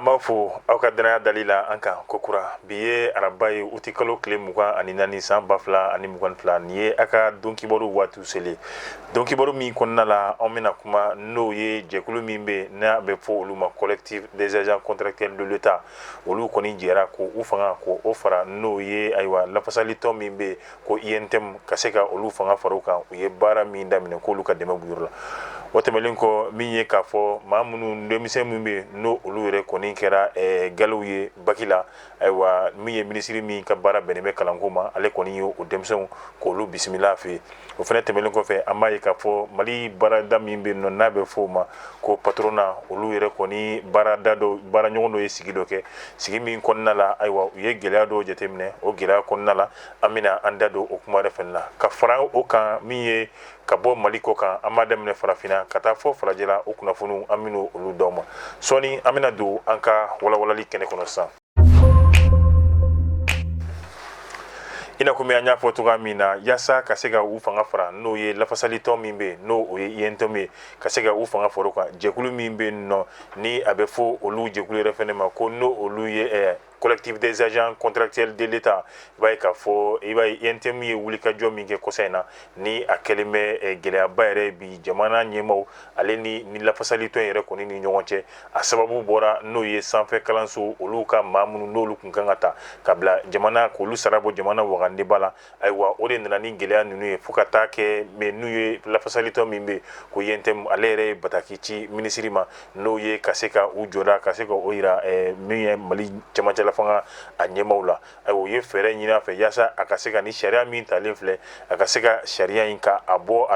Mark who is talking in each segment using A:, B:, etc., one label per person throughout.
A: an b'a fɔ aw ka dannaya dali la an kan kokura bi ye araba ye uti kalo tile mugan ani naani san ba fila ani mugan fila nin ye a ka donkibaru waati selen donkibaru min kɔnɔna la an bɛna kuma n'o ye jɛkulu min bɛ n'a bɛ fɔ olu ma collectif des agents contractuels de l'État olu kɔni jɛra ko u fanga ko o fara n'o ye ayiwa lafasalitɔn min bɛ ko UNTM ka se ka olu fanga fara u kan u ye baara min daminɛ k'olu ka dɛmɛ b'o yɔrɔ la o tɛmɛnen kɔ min ye k'a fɔ maa minnu denmisɛnw min bɛ n'o olu yɛrɛ kɔni kɛra galiw ye baki la ayiwa min ye minisiri min ka baara bɛnnen bɛ kalanko ma ale kɔni ye o denmisɛnw k'olu bisimila fɛ o fana tɛmɛnen kɔfɛ an b'a ye k'a fɔ mali baarada min bɛ nɔ n'a bɛ fɔ o ma ko patronat olu yɛrɛ kɔni baarada dɔ baaraɲɔgɔn dɔ ye sigi dɔ kɛ sigi min kɔnɔna la ayiwa u ye gɛlɛya dɔw jateminɛ o gɛlɛya kɔnɔna la an bɛna an da don o kuma yɛrɛ fana na ka fara o kan min ye ka bɔ mali kɔkan an b'a daminɛ farafinna ka taa fɔ farajɛla o kunnafoniw an bɛna olu d'aw ma sɔɔni an bɛna don an ka walawalali kɛnɛ kɔnɔ sisan i n'a komi an y'a fɔ cogoya min na yaasa ka se ka u fanga fara n'o ye lafasalitɔn min bɛ yen n'o o ye UNTM ye ka se ka u fanga fara o kan jɛkulu min bɛ yen nɔ ni a bɛ fɔ olu jɛkulu yɛrɛ fana ma ko n'o olu ye collectif des agents contractuels de l'État i b'a ye k'a fɔ i b'a ye UNTM ye wulikajɔ min kɛ kɔsa in na ni a kɛlen bɛ eh, gɛlɛyaba yɛrɛ bi jamana ɲɛmaaw ale ni nin lafasalitɔn yɛrɛ kɔni ni ɲɔgɔn cɛ a sababu bɔra n'o ye sanfɛ kalanso olu ka maa minnu n'olu kun kan ka ta ka bila jamana k'olu sara bɔ jamana wagandeba la ayiwa o de nana ni gɛlɛya ninnu ye fo ka taa kɛ mɛ n'u ye lafasalitɔn min bɛ ko UNTM ale yɛrɛ ye bataki ci minisiri ma n'o ye ka se ka u jɔda ka se ka o jira min ye mali camancɛlafanga a ɲɛmaw la ayiwa u ye fɛɛrɛ ɲini a fɛ yaasa a ka se ka nin sariya min talen filɛ a ka se ka sariya in ka a bɔ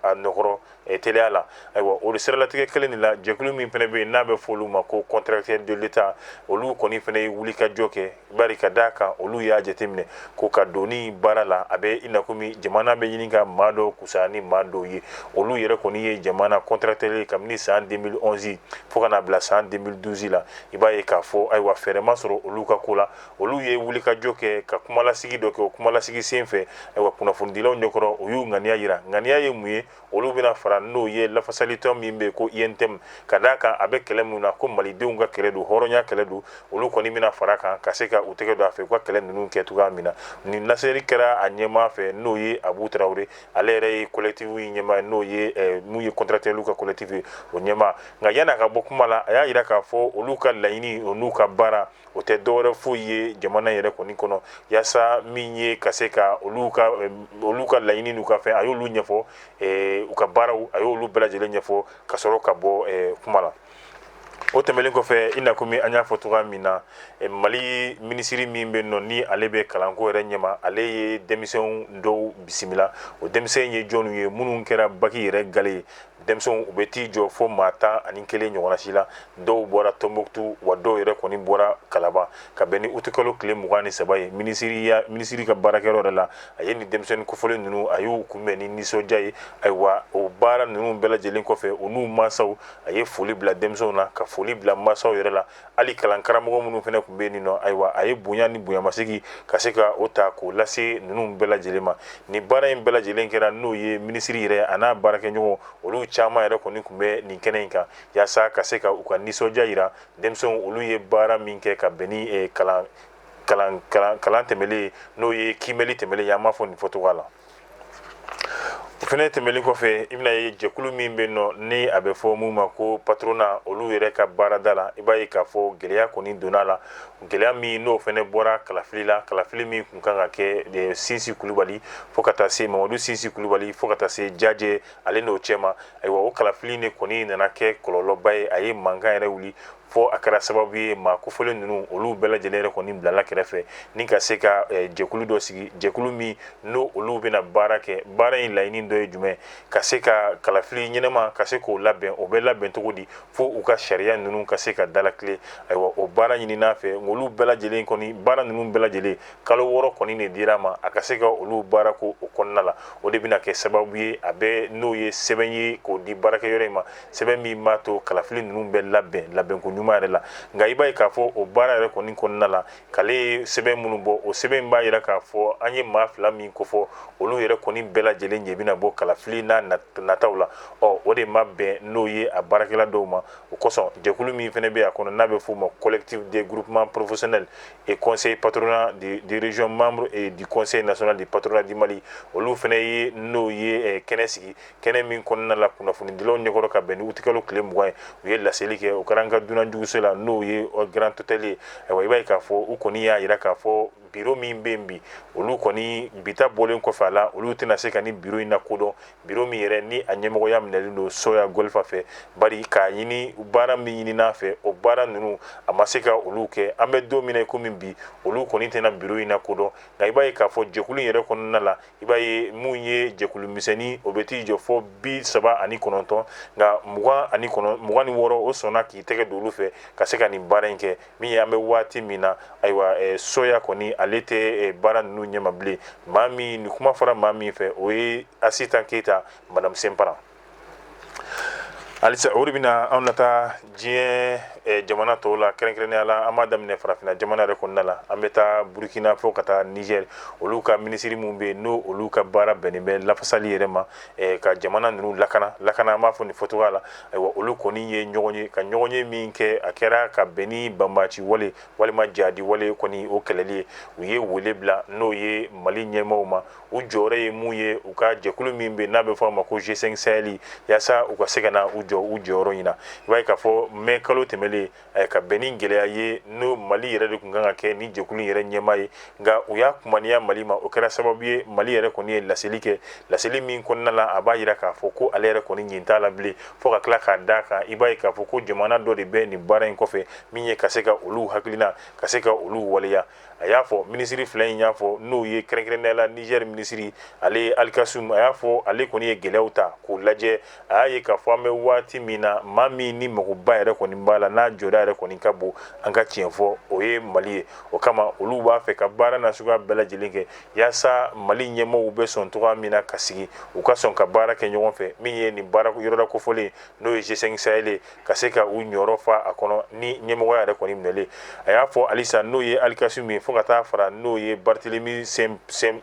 A: a nɔkɔrɔ teliya la ayiwa olu siralatigɛ kelen de la jɛkulu min fana bɛ yen n'a bɛ fɔ olu ma ko contractuels de l'État olu kɔni fana ye wulikajɔ kɛ bari ka d'a kan olu y'a jateminɛ ko ka donni baara la a bɛ ina kɔmi jamana bɛ ɲini ka maa dɔ kusa ni maa dɔw ye olu yɛrɛ kɔni ye jamana contractuels ye kabini san deux mille onze fo ka na bila san deux mille douze la i b'a ye k'a fɔ ayiwa fɛɛrɛ ma sɔrɔ olu ka ko la olu ye wulikajɔ kɛ ka kumalasigi dɔ kɛ o kumalasigi sen fɛ ayiwa kunnafonidilaw ɲɛkɔrɔ u y'u ŋaniya jira ŋaniya ye mun ye olu bɛna fara n'o ye lafasalitɔn min bɛ ko UNTM ka d'a kan a bɛ kɛlɛ min na ko malidenw ka kɛlɛ don hɔrɔnya kɛlɛ don olu kɔni bɛna fara kan ka se ka u tɛgɛ don a fɛ u ka kɛlɛ ninnu kɛ cogoya min na nin laseli kɛra a ɲɛmaa fɛ n'o ye abu tarawele ale yɛrɛ ye collectif in ɲɛmaa n'o ye mun ye contractuelw ka collectif ye o ɲɛmaa nka yan'a ka bɔ kuma la a y'a jira k'a fɔ olu ka laɲini o n'u ka baara o tɛ dɔwɛrɛ foyi ye jamana yɛrɛ kɔni kɔnɔ yaasa min ye ka se ka olu ka laɲini n'u ka fɛn a y'olu ɲɛfɔ u ka baaraw a y'olu bɛɛ lajɛlen ɲɛfɔ ka sɔrɔ ka bɔ kuma la o tɛmɛlen kɔfɛ i na komi an y'a fɔ cogo min na mali minisiri min bɛ nɔ ni ale bɛ kalanko yɛrɛ ɲɛma ale ye denmisɛnw dɔw bisimila o denmisɛnnin ye jɔnw ye minnu kɛra baki yɛrɛ gale ye denmisɛnw u bɛ t'i jɔ fo maa tan ani kelen ɲɔgɔnna si la dɔw bɔra tonbukutu wa dɔw yɛrɛ kɔni bɔra kalaban ka bɛn ni utikalo tile mugan ni saba ye minisiriya minisiri ka baarakɛyɔrɔ yɛrɛ la a ye ni denmisɛnnin kofɔlen ninnu a y'u kunbɛn ni nisɔndiya ye ayiwa o baara ninnu bɛɛ lajɛlen kɔfɛ u n'u mansaw a ye foli bila denmisɛnw na ka foli bila mansaw yɛrɛ la hali kalan karamɔgɔ minnu fana tun bɛ yen nɔ ayiwa a ye bonya ni bonyamasegin ka se ka o ta k'o lase ninnu bɛɛ lajɛlen ma ni baara in bɛɛ lajɛlen kɛra n'o ye minisiri yɛrɛ a n'a baarakɛɲɔgɔn olu caman yɛrɛ kɔni tun bɛ nin kɛnɛ in kan yaasa ka se ka u ka nisɔndiya jira denmisɛnw olu ye baara min kɛ ka bɛn ni eh, kalan kalan kalan kalan tɛmɛlen n'o ye kiimɛli tɛmɛlen ye an b'a fɔ nin fɔcogoya la o fana tɛmɛlen kɔfɛ i bɛna ye jɛkulu min bɛ nɔ ni a bɛ fɔ min ma ko patorona olu yɛrɛ ka baarada la i b'a ye k'a fɔ gɛlɛya kɔni donna la gɛlɛya min n'o fana bɔra kalafili la kalafili min tun kan ka kɛ sinsi kulubali fo ka taa se mamadu sinsi kulubali fo ka taa se jajɛ ale n'o cɛ ma ayiwa o kalafili de kɔni nana kɛ kɔlɔlɔba ye a ye mankan yɛrɛ wuli fo a kɛra sababu ye maa kofɔlen ninnu olu bɛɛ lajɛlen yɛrɛ kɔni bilala kɛrɛfɛ ni ka se ka eh, jɛkulu dɔ sigi jɛkulu min n'o olu bɛna baara kɛ baara in laɲini dɔ ye jumɛn ka se ka kalafili ɲɛnɛma ka se k'o labɛn o bɛ labɛn cogo di fo u ka sariya ninnu ka se ka dalakilen ayiwa o baara ɲinin'a fɛ olu bɛɛ lajɛlen kɔni baara ninnu bɛɛ lajɛlen kalo wɔɔrɔ kɔni de dir'a ma a ka se ka olu baara kɛ o kɔnɔna la o de bɛna kɛ sababu ye a bɛ n'o ye sɛbɛn ye k'o di baarakɛyɔrɔ in ma sɛbɛn min b'a to kalafili ninnu bɛ labɛn labɛnko ɲuman yɛrɛ la nka i b'a ye k'a fɔ o baara yɛrɛ kɔni kɔnɔna la k'ale ye sɛbɛn minnu bɔ o sɛbɛn in b'a yira k'a fɔ an ye maa fila min kofɔ olu yɛrɛ kɔni bɛɛ lajɛlen ɲɛ bɛna bɔ kalafili n'a nataw la ɔ o de ma bɛn n'o ye a baarakɛla dɔw ma o kosɔn jɛkulu min fana bɛ a kɔnɔ n'a bɛ f'o ma collectif des groupements professionnels et conseil patronat de, de région membre et du conseil national du patronat du Mali olu fana ye n'o ye eh, kɛnɛ sigi kɛnɛ min kɔnɔna la kunnafonidilaw ɲɛkɔrɔ ka bɛn ni utikalo tile mugan ye u ye laseli kɛ o kɛra an ka dunanjiginso la n'o ye grand hôtel ye ayiwa i b'a ye k'a fɔ u kɔni y'a jira k'a fɔ biro min bɛ yen bi olu kɔni bi ta bɔlen kɔfɛ a la olu tɛna se ka ni biro in lakodɔn biro min yɛrɛ ni a ɲɛmɔgɔya minɛlen don soya golfa fɛ bari k'a ɲini baara min ɲinin'a fɛ o baara ninnu a ma se ka olu kɛ an bɛ don min na i komi bi olu kɔni tɛna biro in lakodɔn nka i b'a ye k'a fɔ jɛkulu yɛrɛ kɔnɔna la i b'a ye mun ye jɛkulu misɛnnin o bɛ t'i jɔ fo bi saba ani kɔnɔntɔn nka mugan ani kɔnɔ mugan ni wɔɔrɔ o sɔnna k'i tɛgɛ don olu fɛ ka se ka nin baara in kɛ min ye an bɛ waati min na ayiwa eh, soya kɔni ale tɛ eh, baara ninnu ɲɛmaa bilen maa min nin kuma fɔra maa min fɛ o ye asitan keyita madame senparan halisa o de bɛna anw nataa diɲɛ eh, jamana tɔw la kɛrɛnkɛrɛnnenya la an b'a daminɛ farafinna jamana yɛrɛ kɔnɔna la an bɛ taa burkina fo ka taa niger olu ka minisiri minnu bɛ yen n'o olu ka baara bɛnnen bɛ lafasali yɛrɛ ma eh, ka jamana ninnu lakana lakana an b'a fɔ nin fɔcogoya la ayiwa olu kɔni ye ɲɔgɔn ye ka ɲɔgɔnye min kɛ a kɛra ka bɛn ni banbaci wale walima jadi wale kɔni o kɛlɛli ye u ye wele bila n'o ye mali ɲɛmaaw ma u jɔyɔrɔ ye mun ye u ka jɛkulu min bɛ n'a bɛ fɔ a ma ko G5 Sahel yaasa u ka se ka na u jɔ u jɔyɔrɔ in na i b'a ye k'a fɔ mai kalo tɛmɛlen eh, ka bɛn ni gɛlɛya ye n'o Mali yɛrɛ de tun kan ka kɛ ni jɛkulu yɛrɛ ɲɛmaa ye nka u y'a kumaniya Mali ma o kɛra sababu ye Mali yɛrɛ kɔni ye laseli kɛ laseli min kɔnɔna la a b'a jira k'a fɔ ko ale yɛrɛ kɔni ɲin t'a la bilen fo ka tila k'a d'a kan i b'a ye k'a fɔ ko jamana dɔ de bɛ nin baara in kɔfɛ min ye ka se ka olu hakilina ka se ka olu waleya a y'a fɔ minisiri fila in y'a fɔ n'o ye kɛrɛnkɛrɛnnenya la niger minisiri ale ye alikasum a y'a fɔ ale kɔni ye gɛlɛyaw ta k'o lajɛ a y'a ye k'a fɔ an bɛ waati min na maa min ni magoba yɛrɛ kɔni b'a la n'a jɔda yɛrɛ kɔni ka bon an ka tiɲɛ fɔ o ye mali ye o kama olu b'a fɛ ka baara nasuguya bɛɛ lajɛlen kɛ yaasa mali ɲɛmɔgɔw bɛ sɔn cogoya min na ka sigi u ka sɔn ka baara kɛ ɲɔgɔn fɛ min ye nin baara yɔrɔda kofɔlen n'o ye G5 Sahel ka se ka u jɔyɔrɔ fa a kɔnɔ ni ɲɛmɔgɔya yɛrɛ kɔni minɛlen a y'a fɔ halisa n'o ye alikasum ye fo ka taa fara n'o ye barthélemy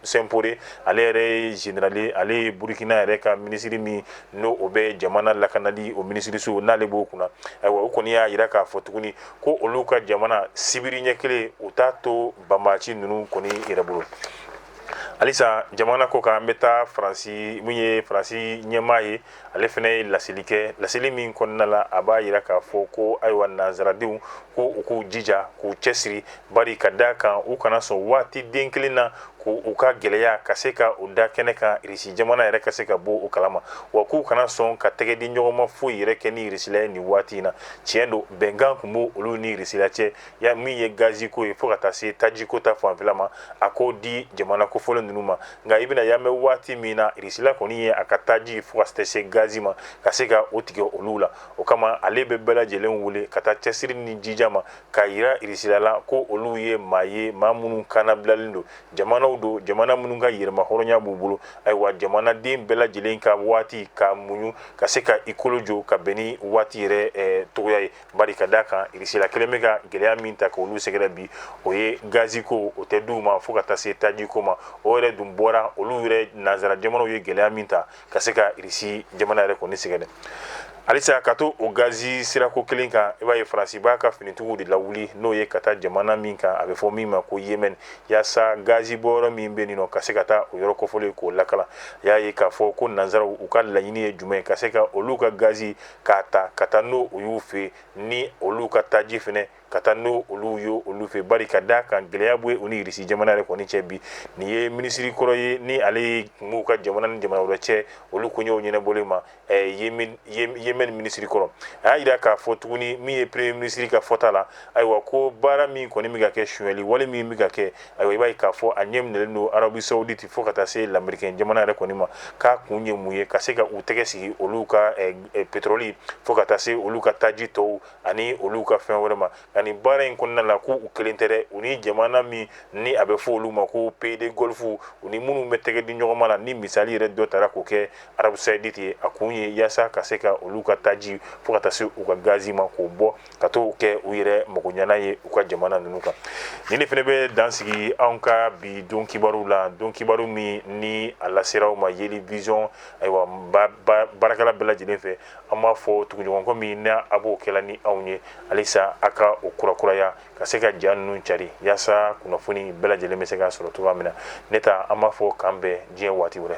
A: simporé ale yɛrɛ ye général ale ye burukina yɛrɛ ka minisiri min n'o o bɛ jamana lakanali o minisiriso n'ale b'o kunna ayiwa o kɔni y'a jira k'a fɔ tuguni ko olu ka jamana sibiriɲɛ kelen u t'a to banbaci ninnu kɔni yɛrɛ bolo halisa jamana kɔkan an bɛ taa faransi min ye faransi ɲɛmaa ye ale fana ye laseli kɛ laseli min kɔnɔna la a b'a jira k'a fɔ ko ayiwa nansaradenw ko u k'u jija k'u cɛsiri bari ka d'a kan u kana sɔn waati den kelen na k'u ka gɛlɛya ka se ka u da kɛnɛ kan irisi jamana yɛrɛ ka se ka bɔ o kalama wa k'u kana sɔn ka tɛgɛdiɲɔgɔnma foyi yɛrɛ kɛ ni irisila ye nin waati in na tiɲɛ don bɛnkan tun b'olu ni irisila cɛ ya min ye gaziko ye fo ka taa se tajiko ta fanfɛla ma a k'o di jamana kofɔlen ninnu ma nka i bɛna y'an bɛ waati min na irisila kɔni ye a ka taji fo ka taa se gazi ma ka se ka o tigɛ olu la o kama ale bɛ bɛɛ lajɛlen wele ka taa cɛsiri ni jija ma k'a yira irisila la ko olu ye maa ye maa minnu kan nabilalen don jamanaw don jamana minnu ka yɛrɛmahɔrɔnya b'u bolo ayiwa jamanaden bɛɛ lajɛlen ka waati ka muɲu ka se ka i kolo jɔ ka bɛn ni waati yɛrɛ cogoya ye bari ka d'a kan irisila kelen bɛ ka gɛlɛya min ta k'olu sɛgɛrɛ bi o ye gazi ko o tɛ d'u ma fo ka taa se taji ko ma o yɛrɛ dun bɔra olu yɛrɛ nanzara jamanaw ye gɛlɛya min ta ka se ka irisi jamana yɛrɛ kɔni sɛgɛrɛ halisa ka to o gazi sirako kelen kan i b'a ye faransi b'a ka finitigiw de lawuli n'o ye ka taa jamana min kan a bɛ fɔ min ma ko yemɛni yaasa gazi bɔyɔrɔ min bɛ nin nɔ ka se ka taa o yɔrɔ kofɔlen k'o lakana i y'a ye k'a fɔ ko nanzaraw u ka laɲini ye jumɛn ka se ka olu ka gazi k'a ta ka taa n'o u y'u fɛ ni olu ka taji fana ka taa n'o olu ye olu fɛ bari ka d'a kan gɛlɛya bɛ yen u ni irisi jamana yɛrɛ kɔni cɛ bi nin ye minisiri kɔrɔ ye ni ale ye kun b'u ka jamana ni jamana wɛrɛ cɛ olu koɲɛw ɲɛnabɔli ma yemɛni minisiri kɔrɔ a y'a jira k'a fɔ tuguni min ye premier minisiri ka fɔta la ayiwa ko baara min kɔni bɛ ka kɛ sonyali wale min bɛ ka kɛ Ayiwa i b'a ye k'a fɔ a ɲɛ minɛlen don Arabie Saoudite fo ka taa se lamɛrikɛn jamana yɛrɛ kɔni ma, k'a kun ye mun ye ka se ka u tɛgɛ sigi olu ka petroli fo ka taa se olu ka taji tɔw ani olu ka fɛn wɛrɛ ma, nka nin baara in kɔnɔna la ko u kelen tɛ dɛ, u ni jamana min ni a bɛ fɔ olu ma ko pays de golfe u ni minnu bɛ tɛgɛ di ɲɔgɔnma la, ni misali yɛrɛ dɔ tara k'o kɛ Arabie Saoudite ye, a kun ye yaasa ka se ka olu ka taji fo ka taa se u ka gazi ma k'o bɔ. ka t'o kɛ u yɛrɛ magoɲɛna ye u ka jamana ninnu kan ni ne fana bɛ dan sigi anw ka bi don kibaru la don kibaru min ni a lasera aw ma yeli vision ayiwa baarakɛla bɛɛ lajɛlen fɛ an b'a fɔ tuguɲɔgɔnkɔ min na a b'o kɛla ni anw ye halisa a ka o kurakuraya ka se ka ja ninnu cari yaasa kunnafoni bɛɛ lajɛlen bɛ se ka sɔrɔ cogoya min na ne ta an b'a fɔ k'an bɛn diɲɛ waati wɛrɛ